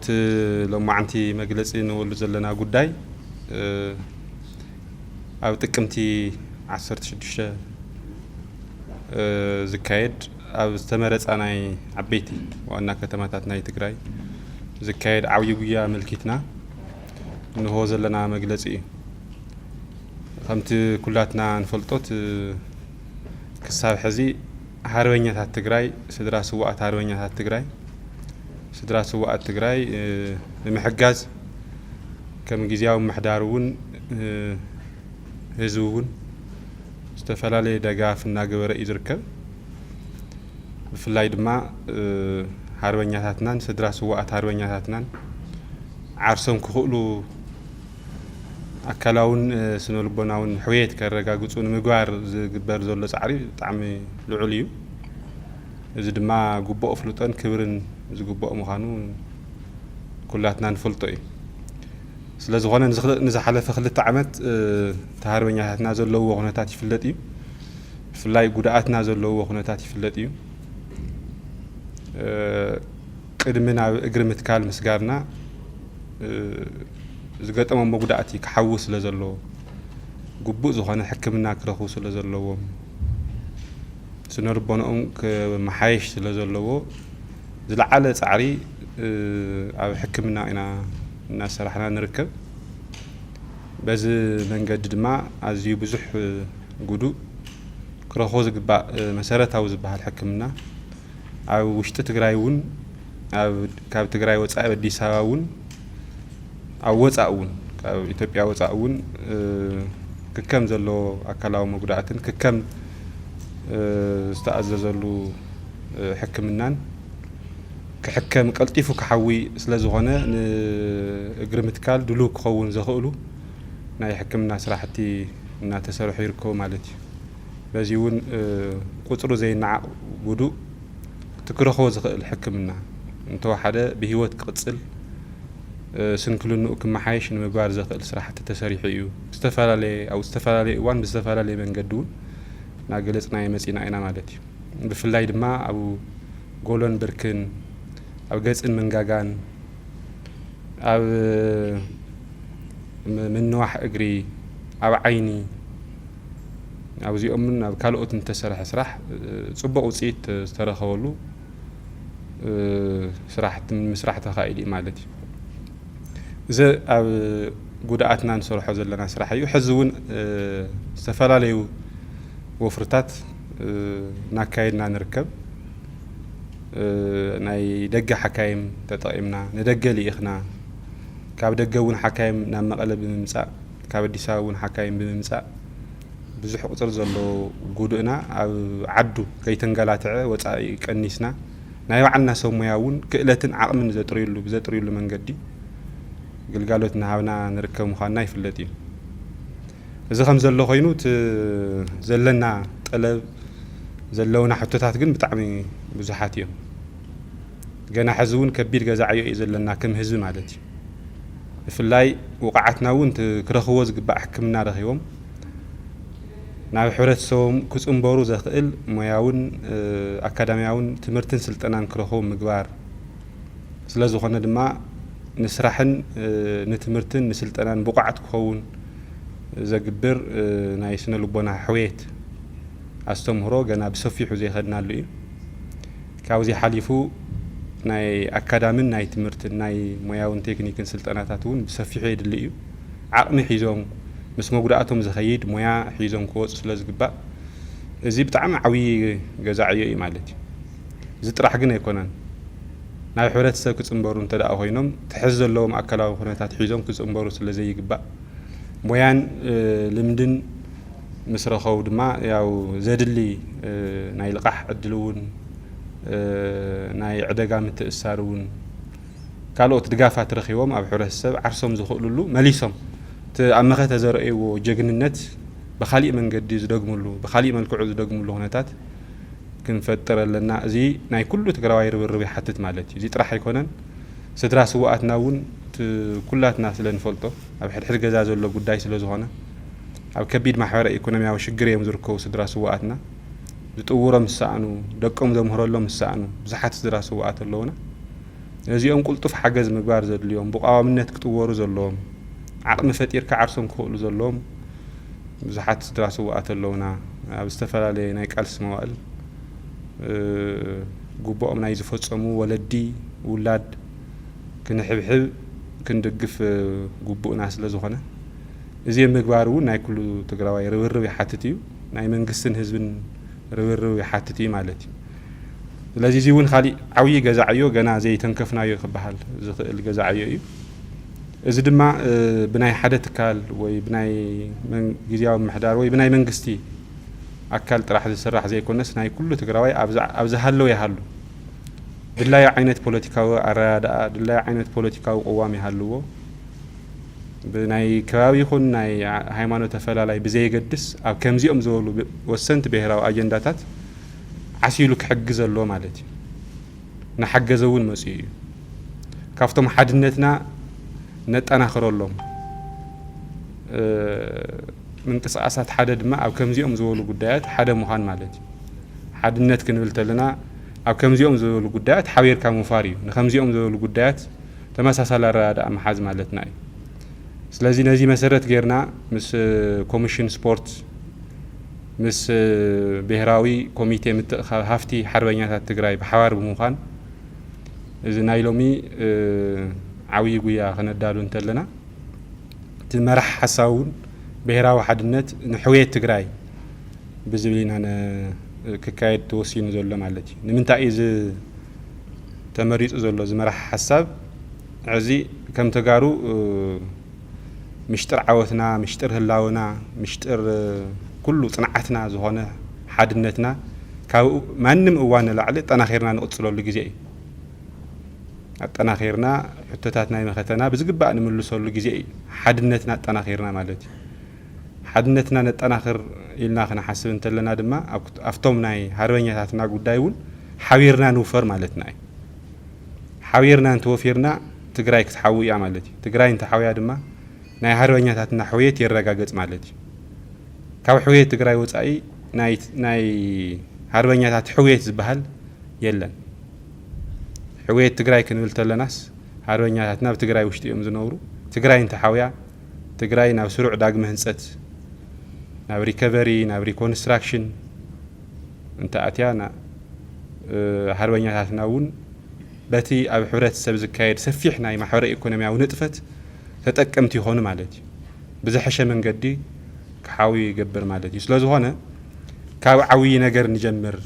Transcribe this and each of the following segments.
እቲ ሎማዓንቲ መግለፂ ንበሉ ዘለና ጉዳይ ኣብ ጥቅምቲ 16 ዝካየድ ኣብ ዝተመረፃ ናይ ዓበይቲ ዋና ከተማታት ናይ ትግራይ ዝካየድ ዓብዪ ጉያ ኣመልኪትና እንሆ ዘለና መግለፂ እዩ። ከምቲ ኩላትና ንፈልጦት ክሳብ ሕዚ ሃርበኛታት ትግራይ ስድራ ስዋኣት ሃርበኛታት ትግራይ ስድራ ስዋኣት ትግራይ ንምሕጋዝ ከም ግዜያዊ ምሕዳር እውን ህዝቢ እውን ዝተፈላለየ ደጋፍ እናገበረ እዩ ዝርከብ ብፍላይ ድማ ሃርበኛታትናን ስድራ ስዋኣት ሃርበኛታትናን ዓርሶም ክኽእሉ ኣካላውን ስነልቦናውን ሕውየት ከረጋግፁ ንምግባር ዝግበር ዘሎ ፃዕሪ ብጣዕሚ ልዑል እዩ። እዚ ድማ ግቡእ ኣፍልጦን ክብርን ዝግበኦ ምዃኑ ኩላትና ንፈልጦ እዩ። ስለዝኾነ ንዝሓለፈ ክልተ ዓመት እቲ ሃርበኛታትና ዘለውዎ ኩነታት ይፍለጥ እዩ። ብፍላይ ጉድኣትና ዘለውዎ ኩነታት ይፍለጥ እዩ። ቅድሚ ናብ እግሪ ምትካል ምስጋርና ዝገጠሞም መጉዳእቲ ክሓዊ ስለ ዘለዎ ግቡእ ዝኾነ ሕክምና ክረኽቡ ስለ ዘለዎም ስነ ልቦንኦም ክመሓየሽ ስለ ዘለዎ ዝለዓለ ፃዕሪ ኣብ ሕክምና ኢና እናሰራሕና ንርከብ። በዚ መንገዲ ድማ ኣዝዩ ብዙሕ ጉዱእ ክረኽቦ ዝግባእ መሰረታዊ ዝበሃል ሕክምና ኣብ ውሽጢ ትግራይ እውን ካብ ትግራይ ወፃኢ ኣብ ኣዲስ ኣበባ እውን ኣብ ወፃእ እውን ካብ ኢትዮጵያ ወፃእ እውን ክከም ዘለዎ ኣካላዊ መጉዳእትን ክከም ዝተኣዘዘሉ ሕክምናን ክሕከም ቀልጢፉ ክሓዊ ስለ ዝኾነ ንእግሪ ምትካል ድሉው ክኸውን ዘኽእሉ ናይ ሕክምና ስራሕቲ እናተሰርሑ ይርከቡ ማለት እዩ። በዚ እውን ቁፅሩ ዘይነዓቕ ውዱእ እቲ ክረኽቦ ዝኽእል ሕክምና እንተወሓደ ብህይወት ክቕፅል ስንክልንኡ ክመሓየሽ ንምግባር ዘኽእል ስራሕቲ ተሰሪሑ እዩ። ዝተፈላለየ ኣብ ዝተፈላለየ እዋን ብዝተፈላለየ መንገዲ እውን እናገለፅናዮ መፂና ኢና ማለት እዩ። ብፍላይ ድማ ኣብ ጎሎን ብርክን፣ ኣብ ገፅን መንጋጋን፣ ኣብ ምንዋሕ እግሪ፣ ኣብ ዓይኒ፣ ኣብዚኦምን ኣብ ካልኦትን ዝተሰርሐ ስራሕ ፅቡቕ ውፅኢት ዝተረኸበሉ ስራሕቲ ምስራሕ ተኻኢሉ እዩ ማለት እዩ። እዚ ኣብ ጉድኣትና ንሰርሖ ዘለና ስራሕ እዩ ሕዚ እውን ዝተፈላለዩ ወፍርታት እናካየድና ንርከብ ናይ ደገ ሓካይም ተጠቒምና ንደገ ልኢኽና ካብ ደገ እውን ሓካይም ናብ መቐለ ብምምፃእ ካብ ኣዲስ ኣበባ እውን ሓካይም ብምምፃእ ብዙሕ ቁፅሪ ዘለዎ ጉዱእና ኣብ ዓዱ ከይተንገላትዐ ወፃኢ ቀኒስና ናይ ባዕልና ሰብ ሙያ እውን ክእለትን ዓቕምን ዘጥርዩሉ ብዘጥርዩሉ መንገዲ ግልጋሎት እናሃብና ንርከብ ምዃንና ይፍለጥ እዩ። እዚ ከም ዘሎ ኮይኑ እቲ ዘለና ጠለብ ዘለውና ሕቶታት ግን ብጣዕሚ ብዙሓት እዮም። ገና ሕዚ እውን ከቢድ ገዛ ዕዮ እዩ ዘለና ከም ህዝቢ ማለት እዩ። ብፍላይ ውቑዓትና እውን እቲ ክረኽብዎ ዝግባእ ሕክምና ረኺቦም ናብ ሕብረተሰቦም ክፅምበሩ ዘኽእል ሞያውን ኣካዳሚያውን ትምህርትን ስልጠናን ክረኽቡ ምግባር ስለዝኾነ ድማ ንስራሕን ንትምህርትን ንስልጠናን ብቑዓት ክኸውን ዘግብር ናይ ስነ ልቦና ሕውየት ኣስተምህሮ ገና ብሰፊሑ ዘይኸድናሉ እዩ። ካብዚ ሓሊፉ ናይ ኣካዳሚን ናይ ትምህርትን ናይ ሞያውን ቴክኒክን ስልጠናታት እውን ብሰፊሑ የድሊ እዩ። ዓቕሚ ሒዞም ምስ መጉዳእቶም ዝኸይድ ሞያ ሒዞም ክወፁ ስለ ዝግባእ እዚ ብጣዕሚ ዓብዪ ገዛ ዕዮ እዩ ማለት እዩ። እዚ ጥራሕ ግን ኣይኮነን ናብ ሕብረተሰብ ክፅምበሩ እንተድኣ ኮይኖም ትሕዝ ዘለዎም ኣካላዊ ኩነታት ሒዞም ክፅምበሩ ስለ ዘይግባእ ሞያን ልምድን ምስ ረኸቡ ድማ ያው ዘድሊ ናይ ልቓሕ ዕድል እውን ናይ ዕደጋ ምትእስሳር እውን ካልኦት ድጋፋት ረኺቦም ኣብ ሕብረተሰብ ዓርሶም ዝኽእልሉ መሊሶም እቲ ኣብ መኸተ ዘርእይዎ ጀግንነት ብካሊእ መንገዲ ዝደግምሉ ብካሊእ መልክዑ ዝደግምሉ ኩነታት ክንፈጥር ኣለና። እዚ ናይ ኩሉ ትግራዋይ ርብርብ ይሓትት ማለት እዩ። እዚ ጥራሕ ኣይኮነን። ስድራ ስውኣትና እውን ኩላትና ስለ ንፈልጦ ኣብ ሕድሕድ ገዛ ዘሎ ጉዳይ ስለ ዝኾነ ኣብ ከቢድ ማሕበረ ኢኮኖሚያዊ ሽግር እዮም ዝርከቡ ስድራ ስውኣትና። ዝጥውሮም ዝሰኣኑ፣ ደቆም ዘምህረሎም ዝሰኣኑ ብዙሓት ስድራ ስውኣት ኣለዉና። ነዚኦም ቁልጡፍ ሓገዝ ምግባር ዘድልዮም፣ ብቋዋምነት ክጥወሩ ዘለዎም፣ ዓቕሚ ፈጢርካ ዓርሶም ክኽእሉ ዘለዎም ብዙሓት ስድራ ስውኣት ኣለዉና። ኣብ ዝተፈላለየ ናይ ቃልሲ መዋእል ግቡኦም ናይ ዝፈጸሙ ወለዲ፣ ውላድ ክንሕብሕብ፣ ክንድግፍ ግቡእና ስለዝኾነ። እዚም ምግባር እውን ናይ ኩሉ ትግራዋይ ርብርብ ይሓትት እዩ። ናይ መንግስትን ህዝብን ርብርብ ይሓትት እዩ ማለት እዩ። ስለዚ እዚ እውን ካሊእ ዓብዪ ገዛ ዕዮ ገና ዘይተንከፍናዮ ክበሃል ዝኽእል ገዛ ዕዮ እዩ። እዚ ድማ ብናይ ሓደ ትካል ወይ ብናይ ግዜያዊ ምሕዳር ወይ ብናይ መንግስቲ ኣካል ጥራሕ ዝስራሕ ዘይኮነስ ናይ ኩሉ ትግራዋይ ኣብ ዝሃለው ይሃሉ ድላዩ ዓይነት ፖለቲካዊ ኣረዳድኣ ድላዩ ዓይነት ፖለቲካዊ ቅዋም ይሃልዎ ብናይ ከባቢ ይኹን ናይ ሃይማኖት ኣፈላላይ ብዘየገድስ ኣብ ከምዚኦም ዝበሉ ወሰንቲ ብሄራዊ ኣጀንዳታት ዓሲሉ ክሕግዝ ኣለዎ ማለት እዩ። እናሓገዘ እውን መፂኡ እዩ። ካብቶም ሓድነትና ነጠናኽረሎም ምንቅስቓሳት ሓደ ድማ ኣብ ከምዚኦም ዝበሉ ጉዳያት ሓደ ምዃን ማለት እዩ። ሓድነት ክንብል ተለና ኣብ ከምዚኦም ዝበሉ ጉዳያት ሓቢርካ ምውፋር እዩ። ንከምዚኦም ዝበሉ ጉዳያት ተመሳሳሊ ኣረዳድኣ ምሓዝ ማለትና እዩ። ስለዚ ነዚ መሰረት ገይርና ምስ ኮሚሽን ስፖርት፣ ምስ ብሄራዊ ኮሚቴ ምትእኽኻብ ሃፍቲ ሓርበኛታት ትግራይ ብሓባር ብምዃን እዚ ናይ ሎሚ ዓብዪ ጉያ ከነዳሉ እንተለና እቲ መራሕ ሓሳብ እውን ብሄራዊ ሓድነት ንሕውየት ትግራይ ብዝብል ኢና ክካየድ ተወሲኑ ዘሎ ማለት እዩ። ንምንታይ እዩ ተመሪፁ ዘሎ ዝመራሕ ሓሳብ ዕዚ ከም ተጋሩ ምሽጥር ዓወትና ምሽጥር ህላውና ምሽጥር ኩሉ ፅንዓትና ዝኾነ ሓድነትና ካብ ማንም እዋን ንላዕሊ ኣጠናኺርና ንቕፅለሉ ግዜ እዩ ኣጠናኺርና ሕቶታት ናይ መኸተና ብዝግባእ ንምልሰሉ ግዜ እዩ ሓድነትና ኣጠናኺርና ማለት እዩ ሓድነትና ነጠናኽር ኢልና ክንሓስብ እንተለና ድማ ኣብቶም ናይ ሃርበኛታትና ጉዳይ እውን ሓቢርና ንውፈር ማለትና እዩ። ሓቢርና እንተወፊርና ትግራይ ክትሓዊ እያ ማለት እዩ። ትግራይ እንተሓውያ ድማ ናይ ሃርበኛታትና ሕውየት ይረጋገፅ ማለት እዩ። ካብ ሕውየት ትግራይ ወፃኢ ናይ ሃርበኛታት ሕውየት ዝበሃል የለን። ሕውየት ትግራይ ክንብል ተለናስ ሃርበኛታትና ኣብ ትግራይ ውሽጢ እዮም ዝነብሩ። ትግራይ እንተሓውያ ትግራይ ናብ ስሩዕ ዳግመ ህንፀት፣ ናብ ሪከቨሪ፣ ናብ ሪኮንስትራክሽን እንተኣትያ ን ሃርበኛታትና እውን በቲ ኣብ ሕብረተሰብ ዝካየድ ሰፊሕ ናይ ማሕበረ ኢኮኖሚያዊ ንጥፈት ተጠቀምቲ ይኾኑ ማለት እዩ። ብዝሐሸ መንገዲ ክሓውዩ ይገብር ማለት እዩ። ስለዝኾነ ካብ ዓብዪ ነገር ንጀምር፣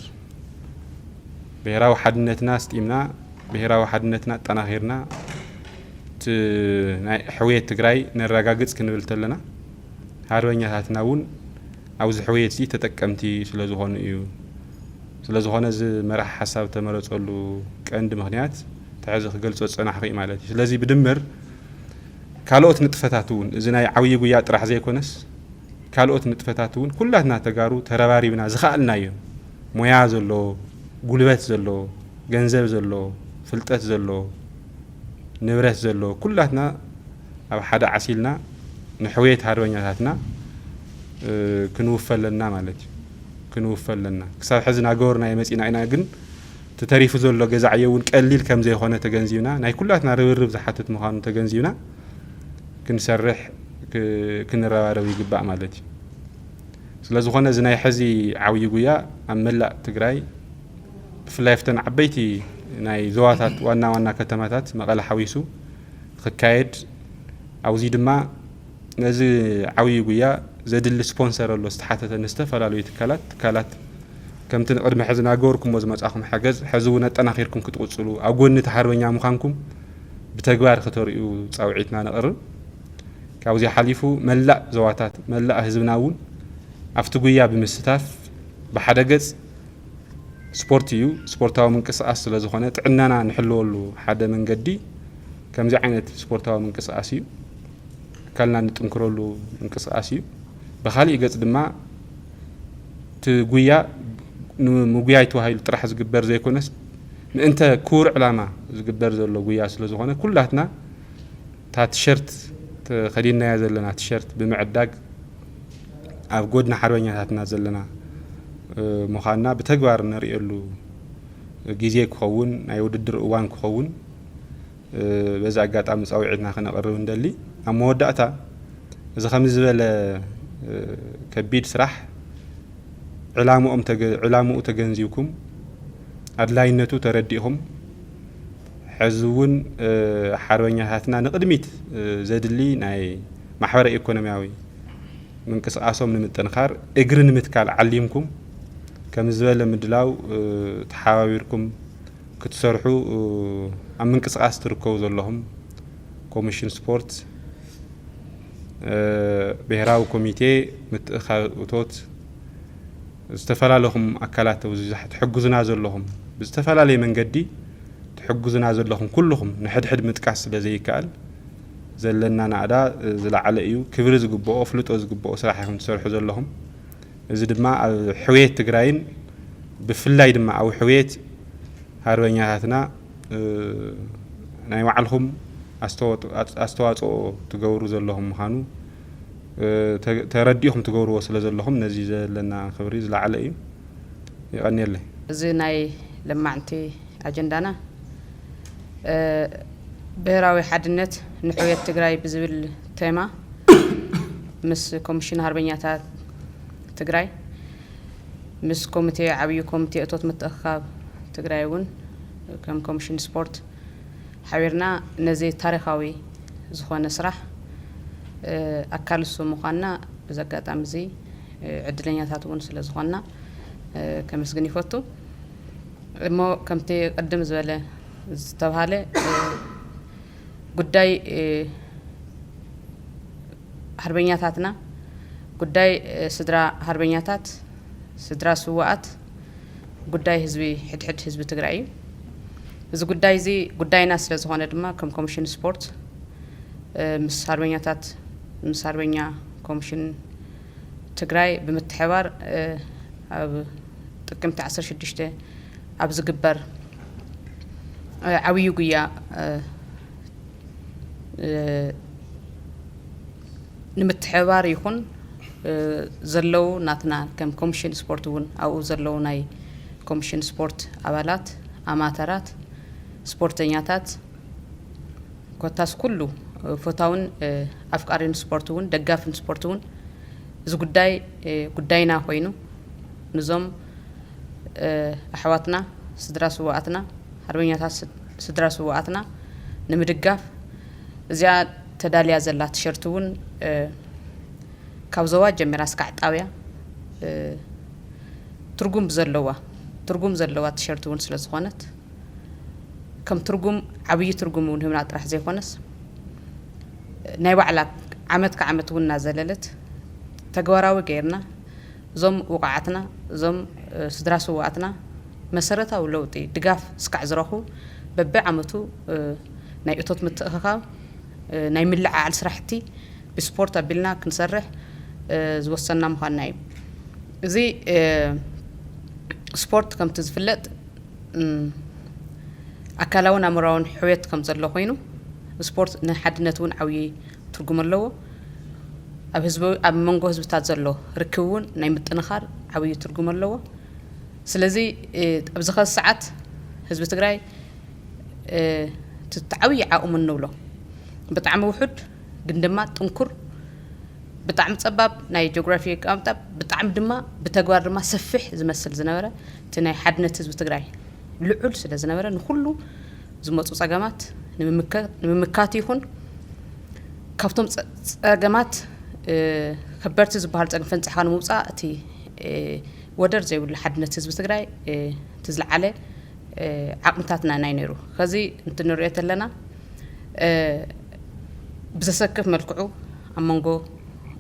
ብሄራዊ ሓድነትና ኣስጢምና፣ ብሄራዊ ሓድነትና ኣጠናኺርና፣ እቲ ናይ ሕውየት ትግራይ ነራጋግፅ ክንብል ተለና ሃርበኛታትና እውን ኣብዚ ሕውየት እዚ ተጠቀምቲ ስለዝኾኑ እዩ። ስለዝኾነ እዚ መራሒ ሓሳብ ዝተመረፀሉ ቀንዲ ምኽንያት እቲ ሕዚ ክገልፆ ዝፀናሕኹ እዩ ማለት እዩ። ስለዚ ብድምር ካልኦት ንጥፈታት እውን እዚ ናይ ዓብዪ ጉያ ጥራሕ ዘይኮነስ ካልኦት ንጥፈታት እውን ኩላትና ተጋሩ ተረባሪብና ዝኸኣልናዮ ሞያ ዘለዎ፣ ጉልበት ዘለዎ፣ ገንዘብ ዘለዎ፣ ፍልጠት ዘለዎ፣ ንብረት ዘለዎ ኩላትና ኣብ ሓደ ዓሲልና ንሕውየት ሃርበኛታትና ክንውፈ ኣለና ማለት እዩ ክንውፈ ኣለና ክሳብ ሕዚ ናገበርናዮ መፂና ኢና ግን እቲ ተሪፉ ዘሎ ገዛ ዕዮ እውን ቀሊል ከም ዘይኮነ ተገንዚብና ናይ ኩላትና ርብርብ ዝሓትት ምዃኑ ተገንዚብና ክንሰርሕ ክንረባረብ ይግባእ ማለት እዩ ስለ ዝኾነ እዚ ናይ ሕዚ ዓብዪ ጉያ ኣብ መላእ ትግራይ ብፍላይ ኣብተን ዓበይቲ ናይ ዞባታት ዋና ዋና ከተማታት መቐለ ሓዊሱ ክካየድ ኣብዚ ድማ ነዚ ዓብዪ ጉያ ዘድሊ ስፖንሰር ኣሎ ዝተሓተተ ንዝተፈላለዩ ትካላት ትካላት ከምቲ ንቅድሚ ሕዚ ናገበርኩሞ ዝመፃኹም ሓገዝ ሕዚ እውን ኣጠናኺርኩም ክትቕፅሉ ኣብ ጎኒ እቲ ሓርበኛ ምዃንኩም ብተግባር ክተርእዩ ፃውዒትና ነቕርብ ካብዚ ሓሊፉ መላእ ዘዋታት መላእ ህዝብና እውን ኣብቲ ጉያ ብምስታፍ ብሓደ ገፅ ስፖርት እዩ። ስፖርታዊ ምንቅስቃስ ስለ ዝኾነ ጥዕናና ንሕልወሉ ሓደ መንገዲ ከምዚ ዓይነት ስፖርታዊ ምንቅስቃስ እዩ። ኣካልና ንጥንክረሉ ምንቅስቃስ እዩ። ብካሊእ ገፅ ድማ እቲ ጉያ ንምጉያይ ተባሂሉ ጥራሕ ዝግበር ዘይኮነስ ምእንተ ክቡር ዕላማ ዝግበር ዘሎ ጉያ ስለ ዝኾነ ኩላትና እታ ቲሸርት ተኸዲንናያ ዘለና ቲሸርት ብምዕዳግ ኣብ ጎድኒ ሓርበኛታትና ዘለና ምዃንና ብተግባር ነርእየሉ ግዜ ክኸውን ናይ ውድድር እዋን ክኸውን በዚ ኣጋጣሚ ፃውዒትና ክነቕርብ እንደሊ ኣብ መወዳእታ እዚ ከምዚ ዝበለ ከቢድ ስራሕ ዕላምኡ ተገንዚብኩም ኣድላይነቱ ተረዲእኹም ሐዚ እውን ሓርበኛታትና ንቕድሚት ዘድሊ ናይ ማሕበረ ኢኮኖሚያዊ ምንቅስቓሶም ንምጥንኻር እግሪ ንምትካል ዓሊምኩም ከምዚ ዝበለ ምድላው ተሓባቢርኩም ክትሰርሑ ኣብ ምንቅስቓስ ትርከቡ ዘለኹም ኮሚሽን ስፖርት ብሔራዊ ኮሚቴ ምትእኻብ እቶት ዝተፋላለኹም ኣካላት ኣብዙይ ትሕግዙና ዘለኹም ብዝተፋላለየ መንገዲ ትሕግዙና ዘለኹም ኩሉኹም ንሕድሕድ ምጥቃስ ስለ ዘይካኣል ዘለና ናእዳ ዝላዓለ እዩ ክብሪ ዝግበኦ ኣፍልጦ ዝግበኦ ስራሕ ኢኹም ትሰርሑ ዘለኹም እዚ ድማ ኣብ ሕውየት ትግራይን ብፍላይ ድማ ኣብ ሕውየት ሃርበኛታትና ናይ ባዕልኹም ኣስተዋፅኦ ትገብሩ ዘለኹም ምኻኑ ተረዲእኹም ትገብርዎ ስለ ዘለኹም ነዚ ዘለና ክብሪ ዝለዓለ እዩ። የቐንየለይ። እዚ ናይ ለማዕንቲ ኣጀንዳና ብሄራዊ ሓድነት ንሕውየት ትግራይ ብዝብል ቴማ ምስ ኮሚሽን ሃርበኛታት ትግራይ ምስ ኮሚቴ ዓብዩ ኮሚቴ እቶት ምትእኽኻብ ትግራይ እውን ከም ኮሚሽን ስፖርት ሓቢርና ነዚ ታሪኻዊ ዝኾነ ስራሕ ኣካል እሱ ምዃንና በዚ ኣጋጣሚ እዚ ዕድለኛታት እውን ስለ ዝኾንና ከመስግን ይፈቱ። እሞ ከምቲ ቅድም ዝበለ ዝተብሃለ ጉዳይ ሃርበኛታትና ጉዳይ ስድራ ሃርበኛታት ስድራ ስውኣት ጉዳይ ህዝቢ ሕድሕድ ህዝቢ ትግራይ እዩ። እዚ ጉዳይ እዚ ጉዳይና ስለ ዝኾነ ድማ ከም ኮሚሽን ስፖርት ምስ ሃርበኛታት ምስ ሃርበኛ ኮሚሽን ትግራይ ብምትሕባር ኣብ ጥቅምቲ 16 ኣብ ዝግበር ዓብዩ ጉያ ንምትሕብባር ይኹን ዘለው ናትና ከም ኮምሽን ስፖርት እውን ኣብኡ ዘለው ናይ ኮምሽን ስፖርት ኣባላት ኣማተራት ስፖርተኛታት ኮታስ ኩሉ ፈታውን ኣፍቃሪን ስፖርት እውን ደጋፍን ስፖርት እውን እዚ ጉዳይ ጉዳይና ኮይኑ ንዞም ኣሕዋትና ስድራ ስዋኣትና ሓርበኛታት ስድራ ስዋኣትና ንምድጋፍ እዚኣ ተዳልያ ዘላ ቲሸርት እውን ካብ ዞባ ጀሚራ እስካዕ ጣብያ ትርጉም ብዘለዋ ትርጉም ዘለዋ ቲሸርት እውን ስለ ዝኾነት ከም ትርጉም ዓብዪ ትርጉም እውን ህብና ጥራሕ ዘይኮነስ ናይ ባዕላ ዓመት ክዓመት እውን እናዘለለት ተግባራዊ ገይርና እዞም ውቑዓትና እዞም ስድራ ስውኣትና መሰረታዊ ለውጢ ድጋፍ እስካዕ ዝረኽቡ በቢ ዓመቱ ናይ እቶት ምትእኽኻብ፣ ናይ ምልዕዓል ስራሕቲ ብስፖርት ኣቢልና ክንሰርሕ ዝወሰንና ምዃንና እዩ። እዚ ስፖርት ከምቲ ዝፍለጥ ኣካላውን ኣእምሮኣውን ሕውየት ከም ዘሎ ኮይኑ ስፖርት ንሓድነት እውን ዓብዪ ትርጉም ኣለዎ። ኣብ ህዝቢ ኣብ መንጎ ህዝብታት ዘሎ ርክብ እውን ናይ ምጥንኻር ዓብዪ ትርጉም ኣለዎ። ስለዚ ኣብዚ ኸዚ ሰዓት ህዝቢ ትግራይ እቲ ዓብዪ ዓቕሙ እንብሎ ብጣዕሚ ውሑድ ግን ድማ ጥንኩር ብጣዕሚ ጸባብ ናይ ጂኦግራፊ ኣቀማምጣ ብጣዕሚ ድማ ብተግባር ድማ ሰፊሕ ዝመስል ዝነበረ እቲ ናይ ሓድነት ህዝቢ ትግራይ ልዑል ስለ ዝነበረ ንኩሉ ዝመፁ ጸገማት ንምምካት ይኹን ካብቶም ጸገማት ከበድቲ ዝበሃሉ ጸገም ፈንጻሕካ ንምውፃእ እቲ ወደር ዘይብሉ ሓድነት ህዝቢ ትግራይ እቲ ዝለዓለ ዓቕምታትና ናይ ነይሩ ከዚ እንትንሪኦ ተለና ብዘሰክፍ መልክዑ ኣብ መንጎ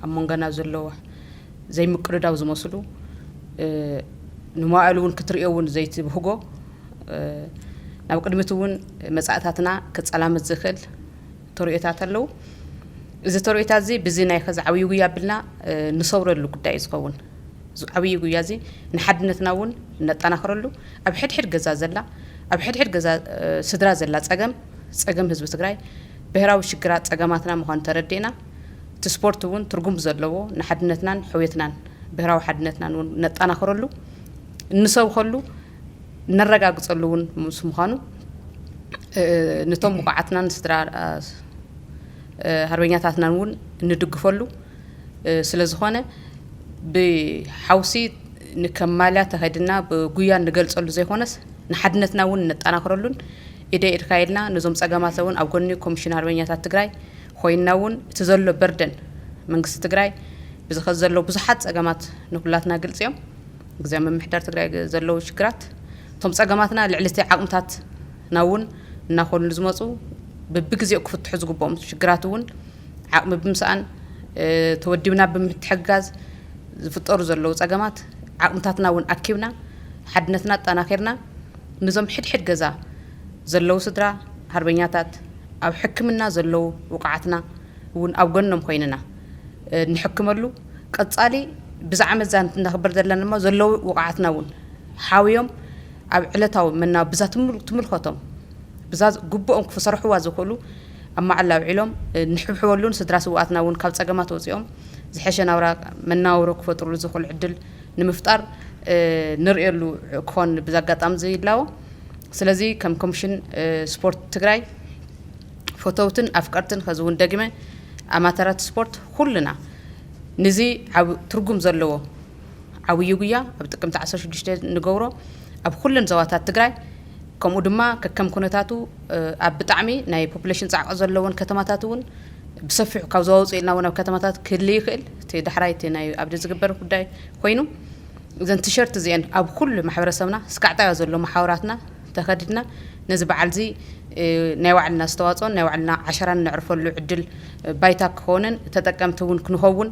ኣብ መንጎና ዘለዎ ዘይምቅድዳው ዝመስሉ ንመዋእሉ እውን ክትሪኦ እውን ዘይትብህጎ ናብ ቅድሚት እውን መጻእታትና ክጸላመት ዝኽእል ተርእዮታት ኣለዉ። እዚ ተርእዮታት እዚ ብዚ ናይ ከዚ ዓብዪ ጉያ ኣብልና ንሰውረሉ ጉዳይ እዩ ዝኸውን። እዚ ዓብዪ ጉያ እዚ ንሓድነትና እውን ነጠናኽረሉ ኣብ ሕድሕድ ገዛ ዘላ ኣብ ሕድሕድ ገዛ ስድራ ዘላ ፀገም ፀገም ህዝቢ ትግራይ ብሄራዊ ሽግራት ፀገማትና ምዃኑ ተረዲእና እቲ ስፖርት እውን ትርጉም ዘለዎ ንሓድነትናን ሕውየትናን ብሄራዊ ሓድነትናን እውን ነጠናኽረሉ እንሰብኸሉ እነረጋግፀሉ እውን ምስ ምዃኑ ንቶም ብቑዓትናን ስድራ ሃርበኛታትናን እውን እንድግፈሉ ስለ ዝኾነ ብሓውሲ ንከም ማልያ ተኸድና ብጉያ እንገልፀሉ ዘይኮነስ ንሓድነትና እውን እነጠናኽረሉን ኢደ ኢድካ ኢልና ነዞም ፀገማት እውን ኣብ ጎኒ ኮሚሽን ኣርበኛታት ትግራይ ኮይና እውን እቲ ዘሎ በርደን መንግስቲ ትግራይ ብዝኸ ዘሎ ብዙሓት ፀገማት ንኩላትና ግልፂ እዮም ግዝያዊ ምምሕዳር ትግራይ ዘለዉ ሽግራት እቶም ፀገማትና ልዕሊ እቲ ዓቕምታትና እውን እናኾኑ ንዝመፁ ብብግዜኡ ክፍትሑ ዝግበኦም ሽግራት እውን ዓቕሚ ብምስኣን ተወዲብና ብምትሕግጋዝ ዝፍጠሩ ዘለዉ ፀገማት ዓቕምታትና እውን ኣኪብና ሓድነትና ኣጠናኺርና ንዞም ሕድ ሕድ ገዛ ዘለዉ ስድራ ሃርበኛታት ኣብ ሕክምና ዘለዉ ውቑዓትና እውን ኣብ ጎኖም ኾይንና እንሕክመሉ ቀጻሊ ብዛ ዓመት እዛ እነኽብር ዘለና ድማ ዘለዉ ውቕዓትና እውን ሓውዮም ኣብ ዕለታዊ መናብ ብዛ ትምልከቶም ብዛ ግቡኦም ክሰርሕዋ ዝኽእሉ ኣብ መዓላ ኣውዒሎም ንሕብሕበሉን ስድራ ስውኣትና እውን ካብ ጸገማት ወጺኦም ዝሐሸ ናብራ መናውሮ ክፈጥርሉ ዝኽእሉ ዕድል ንምፍጣር ንርእየሉ ክኾን ብዛ ኣጋጣሚ እዚ ይላቦ። ስለዚ ከም ኮሚሽን ስፖርት ትግራይ ፈተውትን ኣፍቀርትን ኸዚ ውን ደጊመ ኣማተራት ስፖርት ኹልና ንዚ ዓብ ትርጉም ዘለዎ ዓብዩ ጉያ ኣብ ጥቅምቲ ዓሰርተ ሽዱሽተ ንገብሮ ኣብ ኹለን ዘዋታት ትግራይ ከምኡ ድማ ከከም ኩነታቱ ኣብ ብጣዕሚ ናይ ፖፕሌሽን ፃዕቂ ዘለወን ከተማታት ውን ብሰፊሑ ካብ ዞባ ውፅእ ኢልና ውን ኣብ ከተማታት ክህሊ ይኽእል እቲ ዳሕራይ እቲ ናይ ኣብዲ ዝግበር ጉዳይ ኾይኑ እዘን ቲሸርት እዚኤን ኣብ ኹሉ ማሕበረሰብና ስካዕጣዮ ዘሎ መሓውራትና እንተኸድና ነዚ በዓልዚ ናይ ባዕልና ኣስተዋፅኦን ናይ ባዕልና ዓሸራን ነዕርፈሉ ዕድል ባይታ ክኾንን ተጠቀምቲ እውን ክንኸውን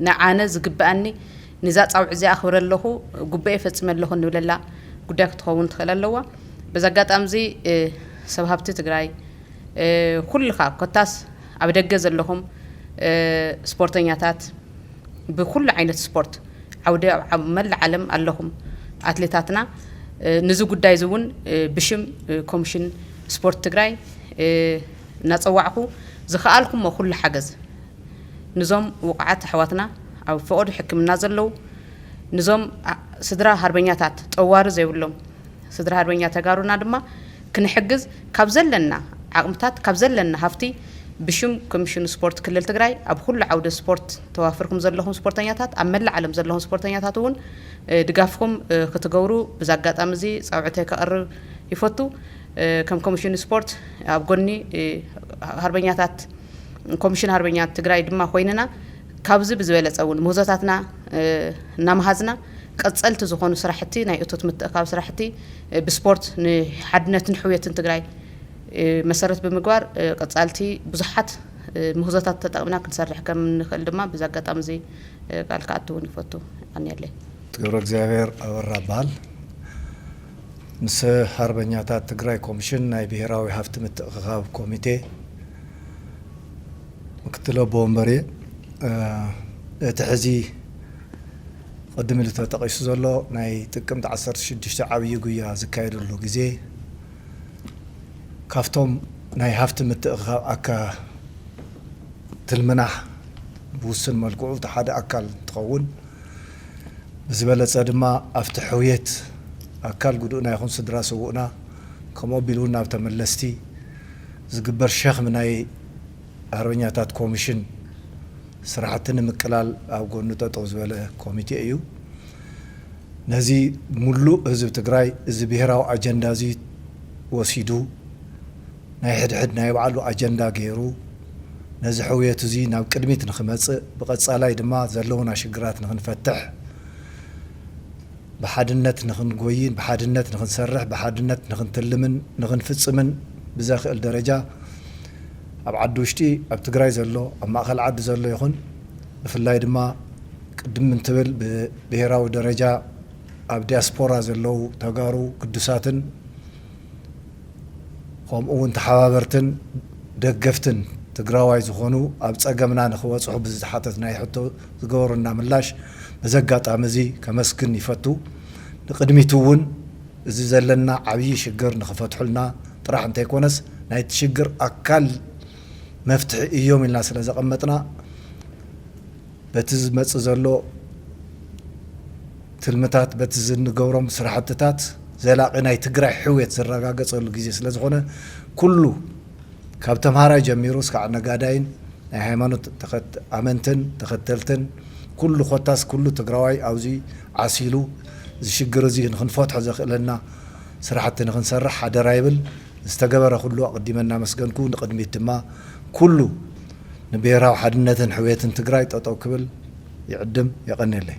ንኣነ ዝግበኣኒ ንዛ ፃውዒት እዚኣ ኣኽብረ ኣለኹ ጉበኤ ፈፂመ ኣለኹ እንብለላ ጉዳይ ክትኸውን ትኽእል ኣለዋ። በዚ ኣጋጣሚ እዚ ሰብ ሃብቲ ትግራይ ኩልኻ ኮታስ ኣብ ደገ ዘለኹም ስፖርተኛታት፣ ብኩሉ ዓይነት ስፖርት ዓውዲ ኣብ መላእ ዓለም ኣለኹም ኣትሌታትና ንዚ ጉዳይ እዚ እውን ብሽም ኮሚሽን ስፖርት ትግራይ እናፀዋዕኹ ዝኸኣልኩሞ ኩሉ ሓገዝ ንዞም ውቑዓት ኣሕዋትና ኣብ ፈቐዶ ሕክምና ዘለው ንዞም ስድራ ሃርበኛታት ጠዋሪ ዘይብሎም ስድራ ሃርበኛ ተጋሩና ድማ ክንሕግዝ ካብ ዘለና ዓቕምታት ካብ ዘለና ሃፍቲ ብሽም ኮሚሽን ስፖርት ክልል ትግራይ ኣብ ኹሉ ዓውደ ስፖርት ተዋፍርኩም ዘለኹም ስፖርተኛታት ኣብ መላእ ዓለም ዘለኹም ስፖርተኛታት እውን ድጋፍኹም ክትገብሩ ብዚ ኣጋጣሚ እዚ ፃውዕተይ ከቕርብ ይፈቱ። ከም ኮሚሽን ስፖርት ኣብ ጎኒ ሃርበኛታት ኮሚሽን ሃርበኛት ትግራይ ድማ ኮይንና ካብዚ ብዝበለፀ እውን ምህዞታትና እናመሃዝና ቀፀልቲ ዝኾኑ ስራሕቲ ናይ እቶት ምትእኻብ ስራሕቲ ብስፖርት ንሓድነትን ሕውየትን ትግራይ መሰረት ብምግባር ቀፃልቲ ብዙሓት ምህዞታት ተጠቕምና ክንሰርሕ ከም እንኽእል ድማ ብዚ ኣጋጣሚ እዚ ቃል ክኣቱ እውን ይፈቱ። የቐንየለይ። ገብረእግዚኣብሔር ኣበራ እበሃል። ምስ ሃርበኛታት ትግራይ ኮምሽን ናይ ብሄራዊ ሃፍቲ ምትእኽኻብ ኮሚቴ ምክትል ኣቦ ወንበር እየ። እቲ ሕዚ ቕድም ኢሉ ተጠቒሱ ዘሎ ናይ ጥቅምቲ ዓሰርተ ሽዱሽተ ዓብዪ ጉያ ዝካየደሉ ግዜ ካብቶም ናይ ሃፍቲ ምትእኽኻብ ኣካትል ምናሕ ብውሱን መልክዑ እቲ ሓደ ኣካል እንትኸውን ብዝበለፀ ድማ ኣብቲ ሕውየት ኣካል ጉዱእና ይኹን ስድራ ስውእና ከምኡ ኣቢሉ እውን ናብ ተመለስቲ ዝግበር ሸኽሚ ናይ ኣርበኛታት ኮምሽን ስራሕቲ ንምቅላል ኣብ ጎኑ ጠጠው ዝበለ ኮሚቴ እዩ። ነዚ ሙሉእ ህዝቢ ትግራይ እዚ ብሄራዊ ኣጀንዳ እዚ ወሲዱ ናይ ሕድሕድ ናይ ባዕሉ ኣጀንዳ ገይሩ ነዚ ሕውየት እዙይ ናብ ቅድሚት ንክመፅእ ብቀፃላይ ድማ ዘለውና ሽግራት ንክንፈትሕ ብሓድነት ንኽንጎይን ብሓድነት ንኽንሰርሕ ብሓድነት ንኽንትልምን ንኽንፍፅምን ብዘኽእል ደረጃ ኣብ ዓዲ ውሽጢ ኣብ ትግራይ ዘሎ ኣብ ማእኸል ዓዲ ዘሎ ይኹን ብፍላይ ድማ ቅድም እንትብል ብብሄራዊ ደረጃ ኣብ ዲያስፖራ ዘለው ተጋሩ ግዱሳትን ኸምኡ እውን ተሓባበርትን ደገፍትን ትግራዋይ ዝኾኑ ኣብ ፀገምና ንኽበፅሑ ብዝተሓተትናዮ ሕቶ ዝገበሩልና ምላሽ በዚ ኣጋጣሚ እዚ ከመስግን ይፈቱ። ንቕድሚት እውን እዚ ዘለና ዓብዪ ሽግር ንኽፈትሑልና ጥራሕ እንተይኮነስ ናይቲ ሽግር ኣካል መፍትሒ እዮም ኢልና ስለ ዘቐመጥና በቲ ዝመፅእ ዘሎ ትልምታት በቲ ዝንገብሮም ስራሕትታት ዘላቒ ናይ ትግራይ ሕውየት ዝረጋገፀሉ ግዜ ስለ ዝኾነ ኩሉ ካብ ተምሃራይ ጀሚሩ እስካዕ ነጋዳይን ናይ ሃይማኖት ኣመንትን ተኸተልትን ኩሉ ኮታስ ኩሉ ትግራዋይ ኣብዚ ዓሲሉ እዚ ሽግር እዚ ንኽንፈትሖ ዘኽእለና ስራሕቲ ንኽንሰርሕ ሓደራ ይብል። ንዝተገበረ ኩሉ ኣቕዲመ እናመስገንኩ ንቕድሚት ድማ ኩሉ ንብሄራዊ ሓድነትን ሕውየትን ትግራይ ጠጠው ክብል ይዕድም። የቐኔለይ።